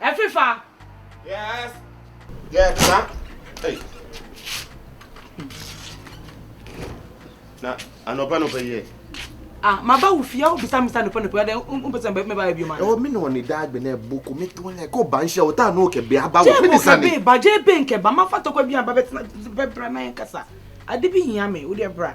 Ɛfefa. Yes. Yes, na. Hey. Na anɔpa no bɛyɛ. Ah, ma ba wo fie a wobisa misa anɔpa anɔpa dɛ wompɛ sɛ mɛba bio ma. Ɛwɔ me na ɔne daa gbɛ na ɛbo ko meto anya ɛkɔ ba nhyɛ wo taa na ɔkɛ bɛ aba wo. Mede sane. Jebo kɛ bɛ ba gye bɛ nkɛ ba ma fa tɔkwa bi aba bɛtena bɛbra na yɛn kasa. Ade bi hia me wo deɛ bra.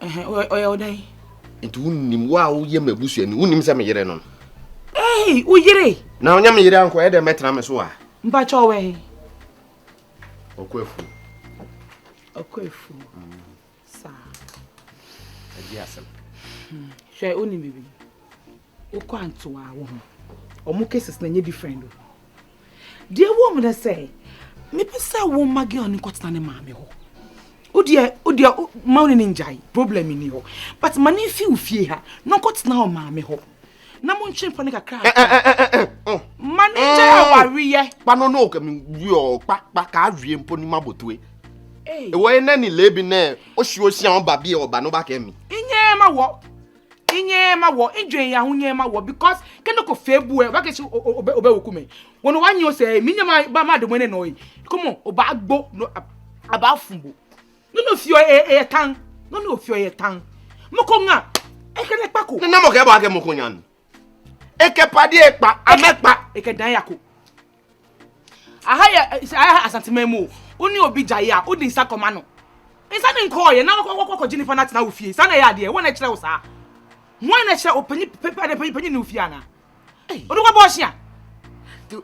Ɛhɛn, ɔyɛ ɔyɛ wo dɛn? Nti wo nim wo a woyɛ m'abusua ni, wo nim sɛ me yere no no. Ɛhɛn, wo yere? Na ɔnyɛ me yere a nkɔyɛ dɛn bɛtena me so a? Mpakyɛ ɔwɔ ɛhɛn? Ɔkɔ afuo. Ɔkɔ afuo. Mm. Saa. Ɛgye asɛm. Hmm. Hwɛ, wo nim bibi. wokɔ anto a wo ho ɔmo cases na nye different o deɛ wɔ mu na sɛ mepɛ sɛ wo ma girl no kɔtena ne maame hɔ wodeɛ wodeɛ ma wo ne ne ngyae problem nni hɔ but ma ne mfi wo fie ha na ɔkɔtena hɔ maame hɔ na mo ntwe mpɔ ne kakra eh, eh, eh, oh. ma ne ngyae awareyɛ kpa no no wiɔ kpa kpa ka awie mpo ne ma botoe ɛwɔ yɛ nɛ ne lebi nɛ wohye ohyia ɔba bi ɔba no ba kɛ mi nyɛ ma wɔ Nyɛɛ ma wɔ, ndwen yɛ ho nyɛɛ ma wɔ because ke no kɔ fɛ bu ɛ ɔba kesi ɔbɛ woku me wɔ no wa nyɛ ɔsɛ ɛ mi nyɛ ma ba ma de mo ɛnɛ nɔ ɛ komo ɔba agbo no aba afumbo no no fiɔ ɛ ɛ tan no no fiɔ ɛ tan mo ko nga ɛ kɛ nɛ kpa ko. Nna mo kɛ bɔ akɛ mo ko nyan ɛ kɛ pa di ɛ kpa amɛ kpa ɛ kɛ dan ya ko. aha yɛ aha asanteman mu o wo ne obi gyae a wode nsa kɔma no nsa ne nkɔɔyɛ na wakɔkɔkɔgye nipa no atena wo fie saa na ɛyɛ adeɛ wɔn na ɛkyerɛ wo saa wɔn na ɛkyerɛ opanyi panyi panyi ne wo fie anaa wode kɔbɔ ɔhyea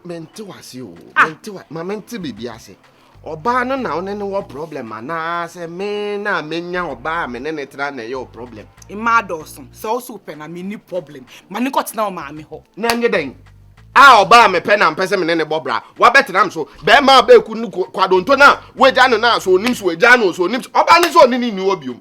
mente wase o mente wa ma mente biribi ase Ɔbaa no na wo ne no wɔ problem anaasɛ me na menya ɔbaa a me ne no tra na ɛyɛ wo problem? Mmaa dɔɔso, sɛ wo so wopɛ no a menni problem. Ma no nkɔtena wo maame hɔ. Na ɛnyɛ dɛn? A ɔbaa a mepɛ na mpɛ sɛ me ne no bɔ bra, wabɛtena me so. Barima a ɔbɛku no kwadwonto no a, woagya no no a, sɛ ɔnim so, wagyaa no o, sɛ ɔnim so, ɔbaa no sɛ ɔne no nni hɔ biom.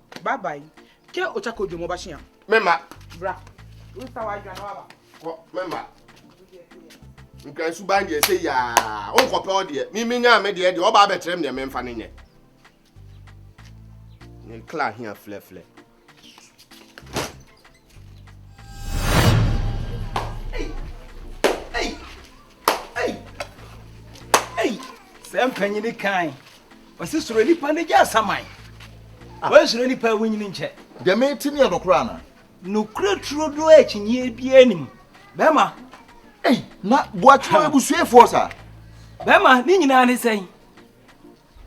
Bye bye. Ke ocha ko dwom ɔbakye a. Me ma. Bra. Wosisa w'adwuma na waba. Kɔ me ma. Nkran suban deɛ sɛ yaa wonkɔpɛ wo deɛ mimi nyaa me deɛ deɛ ɔba abɛkyerɛ me deɛ memfa no nyɛ ne kla hia flɛflɛ sɛ mpanyini kan ɔsi soro nipa ne gya asaman ah. wɔn soro nipa ewu nyini nkyɛ. dɛmɛ ti ni yɛ nokura ana. nokura turo do akyinyie bi anim bɛrima. na buatwa ebusuafoɔ sa. bɛrima ne nyinaa ne sɛn.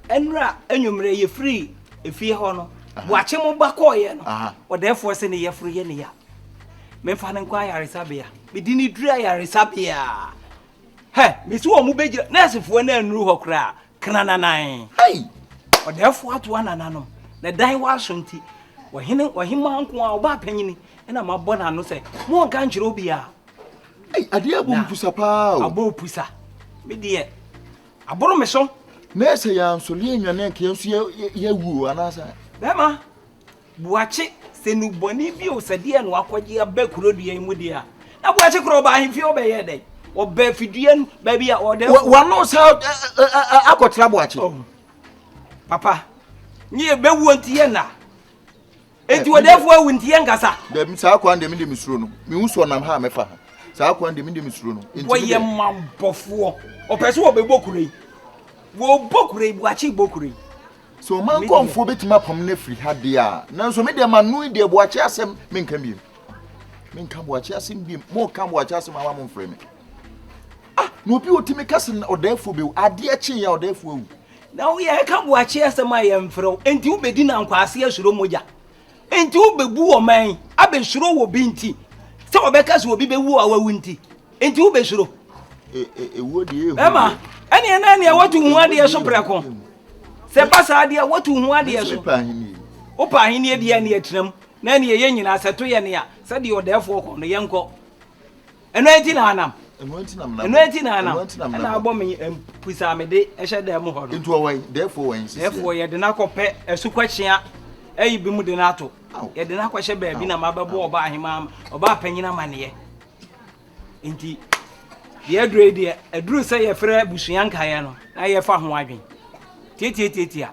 Nnora anwumerɛ yɛfirii efie hɔ no, boakye mo ba kɔɔeɛ no, ɔdɛɛfoɔ se ne yafunu yɛ ne ya. Memfa no nkɔ ayaresabea. Mede no duru ayaresabea a, hɛ, mese wɔn bɛgyina, nɛɛsefoɔ no annuru hɔ koraa, krananan. Hei! Ɔdɛɛfoɔ atoa nananom, na dan hɔ aso nti, ɔhene, ɔhemaa nko a, ɔbaa panyini, ɛna mabɔ n'ano sɛ, monnka nkyerɛ obiara. Ei, adeɛ abɔ mpusa paa o. Abɔ pusa. Me deɛ, Aboro me so. Na sɛ yɛansɔre annwane anka yɛn nso yɛawu o, anaasɛ? Bɛrima, Boakye, sɛ nnubɔne bi o, sɛ deɛ na wakɔgye aba kuro dua yi mu deɛ a, na Boakye korɔ ɔbaa ahemfie ɔbɛyɛɛ dɛn? Ɔbaa fidua no baabi a ɔdɛ. Wano sa akɔtra Boakye. Oh, papa, nye yɛbɛwuo nti yɛ nna. Enti wɔdɛfo awu nti yɛn kasa. Dɛm saa kwan deɛ mi deɛ mi suro no. Mi hu sɔ nam ha a mɛ fa ha. Saa kwan deɛ mi deɛ mi suro no. Enti mi deɛ. Wɔyɛ mabɔfoɔ. Ɔpɛ sɛ wɔbɛ bɔ kuro yi. Wɔbɔ kuro yi buakye bɔ kuro yi. Sɛ ɔman nkɔnfoɔ bɛ tumi apam ne firi ha deɛ a. Nanso mi deɛ ma no yi deɛ buakye asɛm mi nka biem. Mi nka buakye asɛm biem. Mo ka buakye asɛm ama mo nfrɛ mi. Ah na obi otumi ka sɛ ɔdɛfo bɛ wu. Adeɛ kye yɛ ɔdɛfo awu. Na wo yɛ ɛka boakye asɛm a yɛ mfrɛ wo enti wo bɛdi na nkwaase asuro mogya enti wo bɛbu wɔ man abɛsuro wɔ bi nti sɛ wɔbɛka sɛ obi bɛwu a wawu nti enti wo bɛsuro ɛma ɛneɛ na ɛneɛ watu ho adeɛ so prɛko sɛ ba saa adeɛ watu ho adeɛ so wopɛ ahenneɛ deɛ ɛneɛ tenam na ɛneɛ yɛ nyinaa sɛ to yɛ nea sɛdeɛ ɔdɛɛfoɔ kɔ no yɛnkɔ ɛno enti na anam ɛno enti na anam ɛno enti na anam ɛna abɔ me mpusa me de ɛhyɛ dan mu hɔ no nti ɔwɛn dɛɛfoɔ wɛn sisi dɛɛfoɔ yɛde no akɔpɛ asukwakyea ɛyi bi mu de no ato yɛde no akɔhyɛ baabi na mabɛbɔ ɔba ahema ɔba apanyin amaneɛ nti deɛ aduro deɛ aduro sɛ yɛfrɛ abusua nkaeɛ no na yɛfa ho adwen tietietie a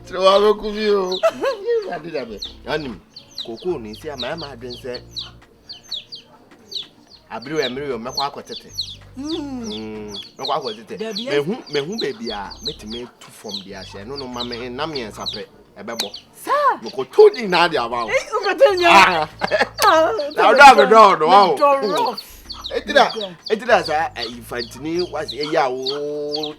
sɛ wabɛku bi o ade da me anim kokoo no nti ama ɛma adwen sɛ abere wɔ mmere wɔ mɛkɔ akɔtete mɛkɔ akɔtete mehu mehu baabi a mɛtumi atu fam de ahyɛ ɛno no ma me nna mmiɛnsa pɛ ɛbɛbɔ mekɔto di na ade ama wo na wodɔ a medɔ ɔdɔ wa o ɛtira ɛtira saa infantini wase ɛyɛ a wo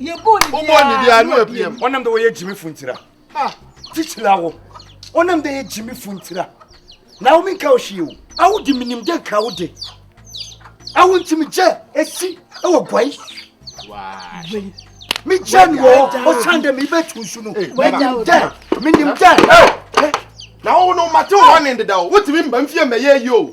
yɛbɔ ne bia wobɔ ne bia ne wapiam ɔnam dɛ wɔyɛ gyimi funtira kyikyila wo ɔnam dɛ yɛ gyimi funtira na wo menka wo hwee o awo de menim dɛ nka wo de awo nti megyɛ ɛsi ɛwɔ guai megyɛ ne wɔ ɔsan dɛ mebɛtu nsu no menim dɛ menim dɛ na wo no mate wo hɔ ne ndeda o wotumi mba mfie mmɛyɛ yi o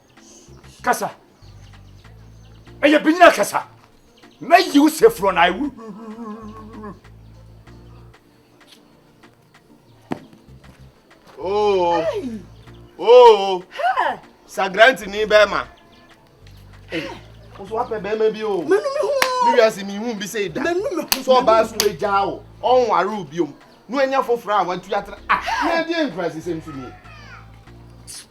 kasa ɛyɛ binyina kasa mɛyi wo sɛ furo na awu oo oo sagranti ni bɛrima nso wapɛ bɛrima bi o mɛnu mi hu mi wiase mi hu bi sɛ da mɛnu mi hu sɛ ɔbaa so egya o ɔnware o biom no anya foforɔ a watu atra ah na ɛdeɛ nkurasisɛm so nie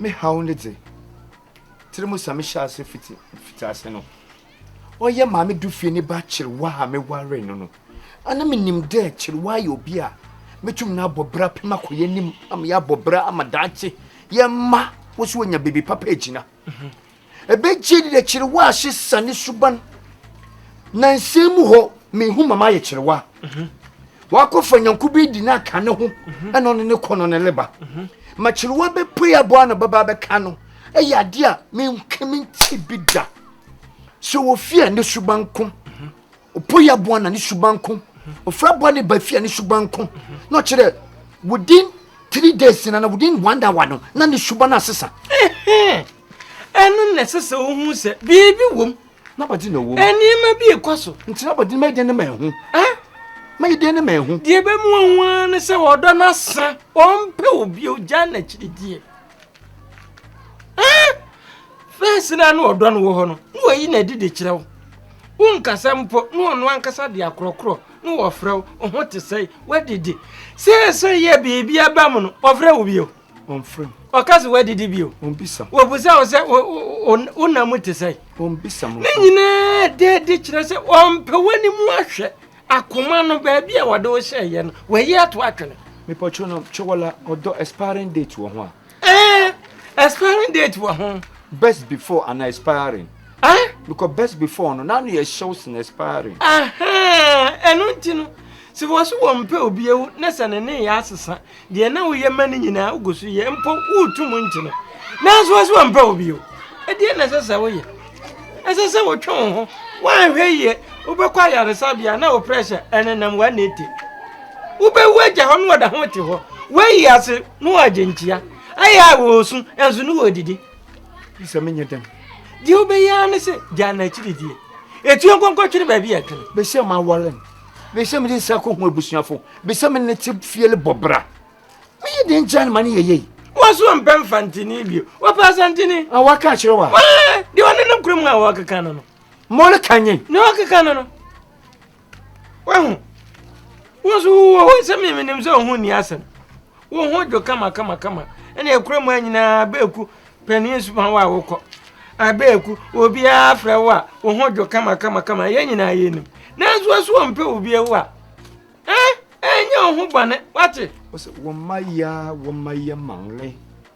me haw ne dze tirimu sa me hyɛ ase fitsi fitsi ase no ɔyɛ maame du fie ne ba kyerewa a meware no no ana menim dɛ kyerewa yɛ obi a metum no abɔ bra pem akɔyɛ anim ama yɛabɔ bra ama daakye yɛ mma wo so wanya baabi papa agyina mhm. Ebegye de kyerewa ahye sane suban. Na nsɛm mu hɔ, mehu mama ayɛ kyerewa. Mhm. Wakɔfa nyanko bi di no aka ne ho mhm. ɛna ɔne ne kɔ no ne leba. Mhm. Ma kyerewa bɛpue aboa na bɛba bɛka no. Ɛyɛ adeɛ a menka menti bi da. Sɛ wɔfie a ne suban ko. Ɔpo yɛ aboa na ne suban nko. Ɔfiri aboa ne ba fie a ne suban nko. Na ɔkyerɛ dɛ within three days na na within one hour no na ne suban asesa. Ɛno na ɛsɛ sɛ wohu sɛ biribi wom. N'abɔde na ɛwom. Nneɛma bi rekɔ so. Nti n'abɔde no mɛyɛ dɛn ne ma ɛho? Mɛyɛ dɛn ne ma ɛho? Deɛ ɛbɛmu ɔho ara ne sɛ wɔdɔ no asa. Wɔmpɛ obi ogya n'akyirideɛ. fɛs no a na ɔdɔ no wɔ hɔ no na wayi no adi de kyerɛ wo wonkasa mpo na ɔno ankasa de akorɔkorɔ na wɔfrɛ wo ɔho te sɛe woadidi seesei yɛ biribi aba mu no ɔfrɛ wo bio ɔmfrɛ mu ɔka sɛ woadidi bio ɔmbisa wɔbusa wo sɛ wona mu te sɛe ɔmbisa mu ne nyinaa dɛ de kyerɛ sɛ ɔmpɛ w'ani mu ahwɛ Akoma no baabi a wɔde wo hyɛɛ yɛ no wayi ato atwene. Mepɔtwo no Chowola ɔdɔ expiring date wɔ ho a. Ɛɛ expiring date wɔ ho. Best before ana expiring. Ɛɛ. Because best before no n'ano yɛ hyew sen expiring. Ɛhɛn ɛno nti no sɛ wɔso wɔn mpɛ obi ewu ne sɛ ne ne yɛ asesa Deɛ na woyɛ ma no nyinaa, wogu so yɛ, mpo woretu mu nkye no, nanso wɔse wɔmpɛ wo bio. Ɛdeɛ na ɛsɛ sɛ woyɛ? Ɛsɛ sɛ wotwe wo ho. Woanhwɛ yie, wobɛkɔ ayaresabea na wo pressure ɛnenam 180. Wobɛwu agya hɔ na wɔda ho te hɔ. Woayi ase na wɔagye nkyea. Ayɛ a wɔresu, nanso ne wɔredidi. Sɛ menyɛ dɛm. Deɛ wobɛyɛ ara ne sɛ gyaa no akyiridie. Ɛtuo nkɔnkɔtwene baabi a ɛtwene. Bɛhyɛ ma awɔrem. Mese mede nsa kɔ hu abusuafo. Mese me ne te fiel bɔ bra. Me yi den kyɛn ma ne yɛ yei. Wɔso mpɛ mfa ntini bio. Wɔpɛ asantini. A wɔaka akyerɛ wa. Wɔn de wɔne nam kurom a wɔkeka no no. Mɔre ka nye. Ne wɔkeka no no. Wɔho. Wɔso wɔ hɔ sɛ me menim sɛ ɔho ni asɛm. wo ho dwo kama kama kama ɛna ɛkura mu a nyinaa bɛɛku panin nsuma wo a wokɔ abɛɛku obiara frɛ wo a wo ho dwo kama kama kama yɛn nyinaa yɛnim nanso waso ɔmpɛ obi awu a ɛn ɛnyɛ wo ho bɔne wate wɔn mma yia wɔn mma yɛ manle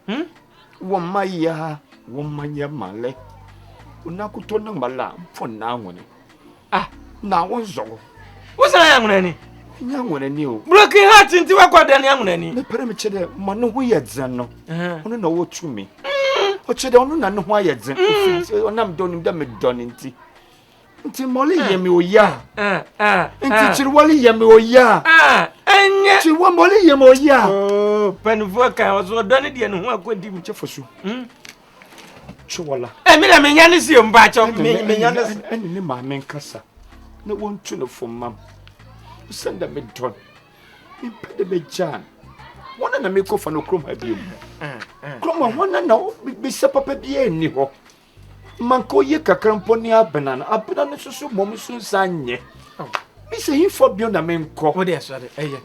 hmm? wɔn mma yia wɔn mma yɛ manle onakotɔ na mbala mfɔ naa wɔne Ah, na wo nsɔ wo. Wo sɛ yɛ nwene ni? Nya nwene ni o. Broken heart nti wa kɔ dɛ ne nwene ni. Me pere me kye dɛ ma ne ho yɛ dzen no. Ono na wo tu me. O kye dɛ ono na ne ho ayɛ dzen. Ofi onam dɔ nim dɛ me dɔ ne nti. Nti mole yɛ me oya. Nti kyiri wole yɛ me oya. Enye. Kyiri wa mole yɛ me oya. Oh, panifuo kan ɔsɔ dɔ ne deɛ ne ho akɔdi mu. Kyɛ fosu. Chiwola. Ẹ mi na mi nya ne si mba akyọ mi nya ne si. Ẹni ne maame nkasa na wọn tu ne fo mam. Sẹ ndẹ mi dọ no, mi mpẹ dẹ mi gyaa no. Wọn na na mi kọ fa no kurom ha bi mu. Kurom ha wọn na na bisa papa bi ẹni hɔ. Ma nka oye kakra mpo ne abena no, abena no soso mmom nso nsa nyɛ. Mi sɛ hinfo bio na mi nkɔ. Wọ́n de ẹ̀sọ́ de ẹ̀yẹ.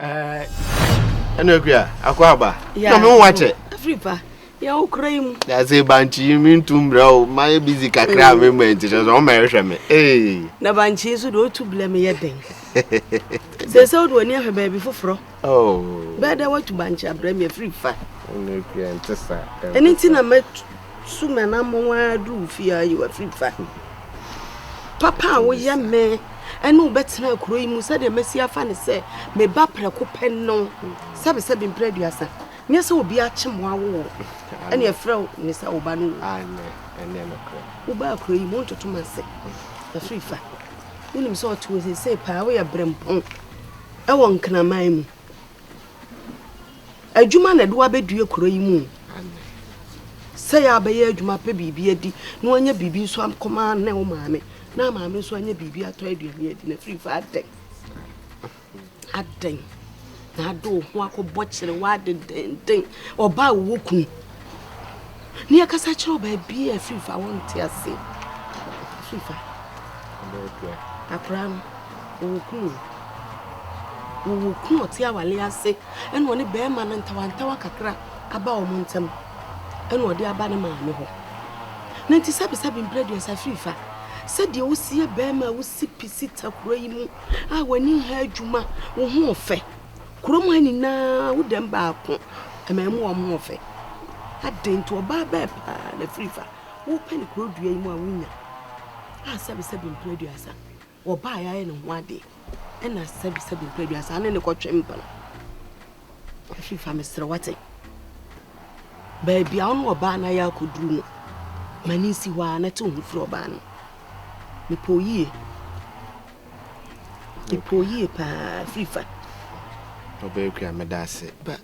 ɛna akua akɔ aba na me ho wakyɛ afiri pa yɛ wo kura yi mu yɛse bankye yi mentu mmerɛ o mayɛ busy kakra a mm. memmɔ nti sɛ sɛ ɔma ɛhwɛ me na bankye nso deɛ ɔtu blɛ me yɛ dɛn sɛ sɛ wode w'ani ahwɛ baabi foforɔ oh. bɛɛ dɛ woatu bankye abrɛ me afiri fa ɛno nti na mɛsu manammɔ a duru fie a yɛ wafiri fa papa a woyɛ me ɛne wo bɛtena kuro yi mu sɛdeɛ masi afa ne sɛ meba prɛko pɛ no sɛbesɛbe mprɛ aduasa nyɛ sɛ obi akye mo awo wɔ ɛne ɛfrɛ wo ne sɛ woba no wo wobaa kuro yi mu ntotom ase ɛso ifa wonim sɛ ɔte wo sesei paa woyɛ berempɔn ɛwɔ nkraman mu adwuma na ɛde wabɛdue kuro yi mu sɛ yɛ abɛyɛ adwuma pɛ biribi adi na wanya biribi nso akɔma ne wo maame na maame nso anyɛ biribi atɔ aduane adi na firi fa adɛn adɛn na ade wo ho akɔbɔ kyerɛ w'ade denden ɔbaa wowɔ kunu ne yɛkasa kyerɛ baabi a firi fa wonte ase firi fa akora no ɔwɔ kunu wɔwɔ kunu ɔte awale ase ɛna ɔne bɛrima no ntawantawa kakra aba wɔn ntam ɛna ɔde aba ne maame hɔ Na nti sɛbesɛbe mpire aduasa firi fa sɛ deɛ wosi yɛ bɛɛma a wosi pi si ta kuro yi mu a w'ani nha adwuma wo ho ɔfɛ kurom ha nyinaa wo dɛm baako ɛma ɛmu wɔn ho ɔfɛ adɛn nti ɔbaa bɛɛ paa na firi fa wopɛ ne kuro dua yi mu a wonya a sɛbesɛbe mpire aduasa Wɔbaa yɛ ayɛ ne ho ade ɛna sɛbi sɛbi mpɛ aduasa ane ne kɔtwe mpena. Ɛfi fa mesrɛ wate. Baabi a ɔno ɔbaa na yɛ akɔduru no ma ne nsi hɔ a na te ho firi ɔbaa no. Mepɔ yie. Mepɔ yie paa firi fa. Ɔbɛyɛ kua meda ase. Ba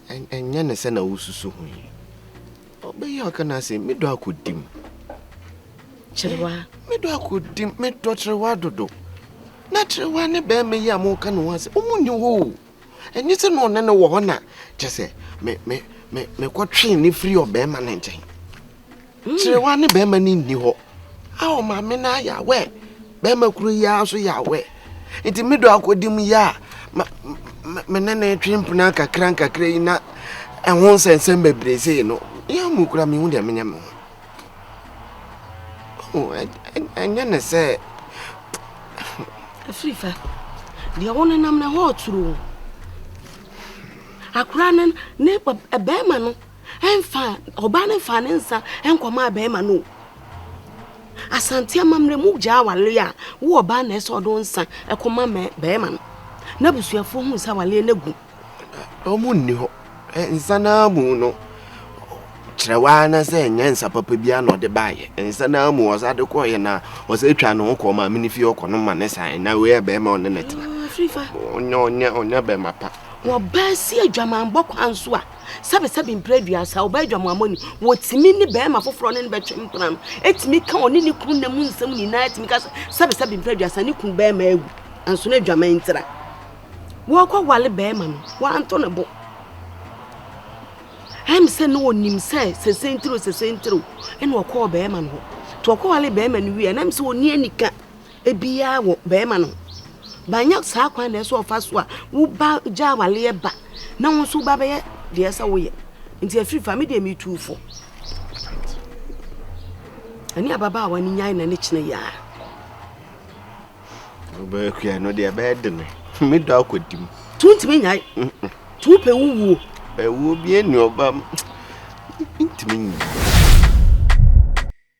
ɛnyɛ ne sɛ na wosusu ho yi. Ɔbɛyɛ ɔka no ase, medɔ akodim. Kyerewa. Medɔ akodim, medɔ kyerewa dodo. Na kyerewa ne bɛrima yi a moka ne ho ase, ɔmo nni hɔ o. Ɛnyɛ sɛ na ɔne no wɔ hɔ na kyɛ sɛ me me me mekɔtwee ne firi ɔbɛrima no nkyɛn. Kyerewa ne bɛrima no nni hɔ. Ao maame no ayɛ awɛ bɛrima koro yi ara nso yɛ awɛ nti me dɔ akɔdi mu yɛ a me ne ne twe mpena nkakra nkakra yi na ɛho nsɛnsɛm bebree sei no yɛ mu kura mehu deɛ menyɛ me ho ɛnyɛ ne sɛ ɛfiri fa deɛ wo nenam no ɛhɔ ɔturo akora no ne bɛrima no ɛmfa ɔbaa no mfa ne nsa nkɔmaa bɛrima no asante amammerɛ mu gyaa awale a wo ɔbaa na ɛsɛ ɔde nsa ɛkɔma bɛrima no na abusuafoɔ hu sɛ awaleɛ no agu ɔmo nni hɔ nsa no amu no kyerɛ waa na sɛ ɛnyɛ nsa papa bi a na ɔde baayɛ nsa no amu ɔsa de kɔɔyɛ na ɔsɛ atwa ne ho kɔɔ maame no fie ɔkɔ no ma ne san na wei yɛ bɛrima ɔne ne tena ɔnyɛ ɔnyɛ ɔnyɛ bɛrima pa wɔbaa si adwamanbɔ kwan so a Sɛbesɛbe mprɛ aduasa, ɔbaa adwamoamɔni. Wɔtumi ne barima foforɔ ne no bɛtwe mpena no, ɛtumi ka ɔne ne kunu nna mu nsɛm nyinaa, ɛtumi ka sɛ sɛbesɛbe mprɛ aduasa ne kunu barima awu, nanso na adwaman ntira. Wɔkɔ wale barima no, wɔanto ne bo. Ɛm sɛ na ɔnim sɛ sese ntiro sese ntiro, ɛna ɔkɔɔ barima no hɔ. To ɔkɔ wale barima no wie, ɛnam sɛ ɔni anika. biaa wɔ bɛɛma no but nyɛ saa kwan na ɛsɛ ɔfa so a wo ba gya awaleɛ ba na wo nso ba bɛyɛ deɛ sɛ woyɛ nti afiri fa me deɛ metuu fo ɛne ababaawa no nyae na ne kyena yia wobɛkua no deɛ ɛbɛyɛ de ne medɔ akɔdi mu tu ntumi nyae tu pɛ wowuo ɛwuo bi ɛni ɔba ntumi nyi